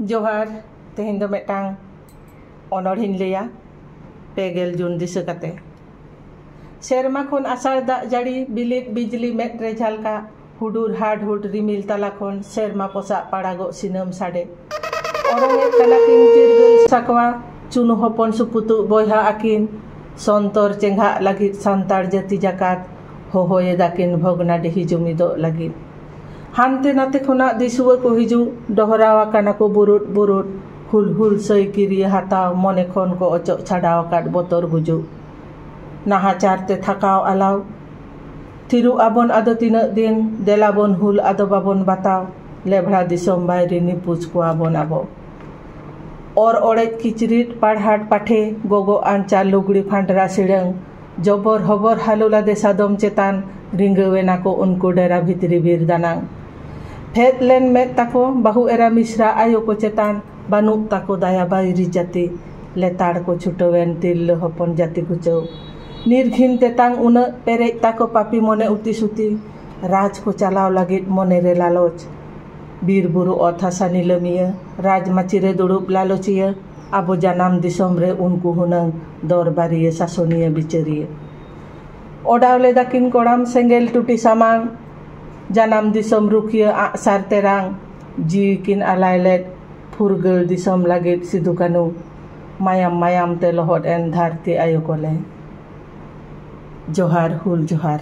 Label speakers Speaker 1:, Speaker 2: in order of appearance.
Speaker 1: ᱡᱚᱦᱟᱨ ᱛᱮᱦᱮᱧ ᱫᱚ ᱢᱤᱫᱴᱟᱝ ᱚᱱᱚᱲᱦᱮᱧ ᱞᱟᱹᱭᱟ ᱯᱮ ᱜᱮᱞ ᱡᱩᱱ ᱫᱤᱥᱟᱹ ᱠᱟᱛᱮ ᱥᱮᱨᱢᱟ ᱠᱷᱚᱱ ᱟᱥᱟᱲ ᱫᱟᱜ ᱡᱟᱹᱲᱤ ᱵᱤᱞᱤᱫ ᱵᱤᱡᱽᱞᱤ ᱢᱮᱫ ᱨᱮ ᱡᱷᱟᱞᱠᱟ ᱦᱩᱰᱩᱨ ᱦᱟᱰᱦᱩᱰ ᱨᱤᱢᱤᱞ ᱛᱟᱞᱟ ᱠᱷᱚᱱ ᱥᱮᱨᱢᱟ ᱯᱚᱥᱟᱜ ᱯᱟᱲᱟᱜᱚᱜ ᱥᱤᱱᱟᱹᱢ ᱥᱟᱰᱮ ᱚᱨᱚᱝ ᱮᱫ ᱠᱟᱱᱟ ᱠᱤᱱ ᱪᱤᱨᱜᱟᱹᱞ ᱥᱟᱠᱣᱟ ᱪᱩᱱᱩ ᱦᱚᱯᱚᱱ ᱥᱩᱯᱩᱛᱩᱜ ᱵᱚᱭᱦᱟ ᱟᱹᱠᱤᱱ ᱥᱚᱱᱛᱚᱨ ᱪᱮᱸᱜᱷᱟᱜ ᱞᱟᱹᱜᱤᱫ ᱥᱟᱱᱛᱟᱲ ᱡᱟᱹᱛᱤ ᱡᱟᱠᱟᱛ ᱦᱚᱦᱚᱭᱮᱫᱟ ᱠᱤᱱ ᱵᱷᱚᱜᱽᱱᱟᱰᱤᱦᱤ ᱡᱩᱢᱤᱫᱚᱜ ᱞᱟᱹᱜᱤᱫ ᱦᱟᱱᱛᱮ ᱱᱟᱛᱮ ᱠᱷᱚᱱᱟᱜ ᱫᱤᱥᱩᱣᱟᱹ ᱠᱚ ᱦᱤᱡᱩᱜ ᱰᱚᱦᱨᱟᱣ ᱟᱠᱟᱱᱟ ᱠᱚ ᱵᱩᱨᱩᱫ ᱵᱩᱨᱩᱫ ᱦᱩᱞ ᱦᱩᱞ ᱥᱟᱹᱭ ᱠᱤᱨᱤᱭᱟᱹ ᱦᱟᱛᱟᱣ ᱢᱚᱱᱮ ᱠᱷᱚᱱ ᱠᱚ ᱚᱪᱚᱜ ᱪᱷᱟᱰᱟᱣ ᱟᱠᱟᱫ ᱵᱚᱛᱚᱨ ᱜᱩᱡᱩᱜ ᱱᱟᱦᱟᱪᱟᱨ ᱛᱮ ᱛᱷᱟᱠᱟᱣ ᱟᱞᱟᱣ ᱛᱷᱤᱨᱩᱜ ᱟᱵᱚᱱ ᱟᱫᱚ ᱛᱤᱱᱟᱹᱜ ᱫᱤᱱ ᱫᱮᱞᱟ ᱵᱚᱱ ᱦᱩᱞ ᱟᱫᱚ ᱵᱟᱵᱚᱱ ᱵᱟᱛᱟᱣ ᱞᱮᱵᱷᱲᱟ ᱫᱤᱥᱚᱢ ᱵᱟᱭᱨᱤ ᱱᱤᱯᱩᱡᱽ ᱠᱚᱣᱟ ᱵᱚᱱ ᱟᱵᱚ ᱚᱨ ᱚᱲᱮᱡ ᱠᱤᱪᱨᱤᱡ ᱯᱟᱲᱦᱟᱴ ᱯᱟᱴᱷᱮ ᱜᱚᱜᱚ ᱟᱧᱪᱟᱨ ᱞᱩᱜᱽᱲᱤ ᱯᱷᱟᱸᱰᱨᱟ ᱥᱤᱲᱟᱹᱝ ᱡᱚᱵᱚᱨ ᱦᱚᱵᱚᱨ ᱦᱟᱞᱚ ᱞᱟᱫᱮ ᱥᱟᱫᱚᱢ ᱪᱮᱛᱟᱱ ᱨᱤᱸᱜᱟᱹᱣ ᱮᱱᱟ ᱠᱚ ᱩᱱᱠᱩ ᱰᱮᱨᱟ ᱵᱷᱤᱛᱨᱤ ᱵᱤᱨ ᱫᱟᱱᱟᱝ᱾ ᱯᱷᱮᱫ ᱞᱮᱱ ᱢᱮᱫ ᱛᱟᱠᱚ ᱵᱟᱹᱦᱩ ᱮᱨᱟ ᱢᱤᱥᱨᱟ ᱟᱭᱳ ᱠᱚ ᱪᱮᱛᱟᱱ ᱵᱟᱹᱱᱩᱜ ᱛᱟᱠᱚ ᱫᱟᱭᱟ ᱵᱟᱹᱭᱨᱤ ᱡᱟᱹᱛᱤ ᱞᱮᱛᱟᱲ ᱠᱚ ᱪᱷᱩᱴᱟᱹᱣ ᱮᱱ ᱛᱤᱨᱞᱟᱹ ᱦᱚᱯᱚᱱ ᱡᱟᱹᱛᱤ ᱜᱩᱪᱟᱹᱣ᱾ ᱱᱤᱨᱜᱷᱤᱱ ᱛᱮᱛᱟᱝ ᱩᱱᱟᱹᱜ ᱯᱮᱨᱮᱡ ᱛᱟᱠᱚ ᱯᱟᱯᱤ ᱢᱚᱱᱮ ᱩᱛᱤ ᱥᱩᱛᱤ ᱨᱟᱡᱽ ᱠᱚ ᱪᱟᱞᱟᱣ ᱞᱟᱹᱜᱤᱫ ᱢᱚᱱᱮ ᱨᱮ ᱞᱟᱞᱚᱪ᱾ ᱵᱤᱨ ᱵᱩᱨᱩ ᱚᱛ ᱦᱟᱥᱟ ᱱᱤᱞᱟᱹᱢᱤᱭᱟᱹ ᱨᱟᱡᱽ ᱢᱟᱹᱪᱤ ᱨᱮ ᱫᱩᱲᱩᱵ ᱞᱟᱞᱚᱪᱤᱭᱟᱹ᱾ ᱟᱵᱚ ᱡᱟᱱᱟᱢ ᱫᱤᱥᱚᱢ ᱨᱮ ᱩᱱᱠᱩ ᱦᱩᱱᱟᱹᱝ ᱫᱚᱨᱵᱟᱨᱤᱭᱟᱹ ᱥᱟᱥᱚᱱᱤᱭᱟᱹ ᱵᱤᱪᱟᱹᱨᱤᱭᱟᱹ᱾ ᱚᱰᱟᱣ ᱞᱮᱫᱟ ᱠᱤᱱ ᱠᱚᱲᱟᱢ ᱥᱮᱸᱜᱮᱞ ᱴᱩᱴᱤ ᱥᱟᱢᱟᱝ᱾ ᱡᱟᱱᱟᱢ ᱫᱤᱥᱚᱢ ᱨᱩᱠᱷᱤᱭᱟᱹ ᱟᱸᱜ ᱥᱟᱨ ᱛᱮᱨᱟᱝ᱾ ᱡᱤᱣᱤ ᱠᱤᱱ ᱟᱞᱟᱭ ᱞᱮᱫ ᱯᱷᱩᱨᱜᱟᱹᱞ ᱫᱤᱥᱚᱢ ᱞᱟᱹᱜᱤᱫ ᱥᱤᱫᱩ ᱠᱟᱹᱱᱩ᱾ ᱢᱟᱭᱟᱢ ᱢᱟᱭᱟᱢ ᱛᱮ ᱞᱚᱦᱚᱫ ᱮᱱ ᱫᱷᱟᱹᱨᱛᱤ ᱟᱭᱳ ᱠᱚᱞᱮ᱾ ᱡᱚᱦᱟᱨ ᱦᱩᱞ ᱡᱚᱦᱟᱨ᱾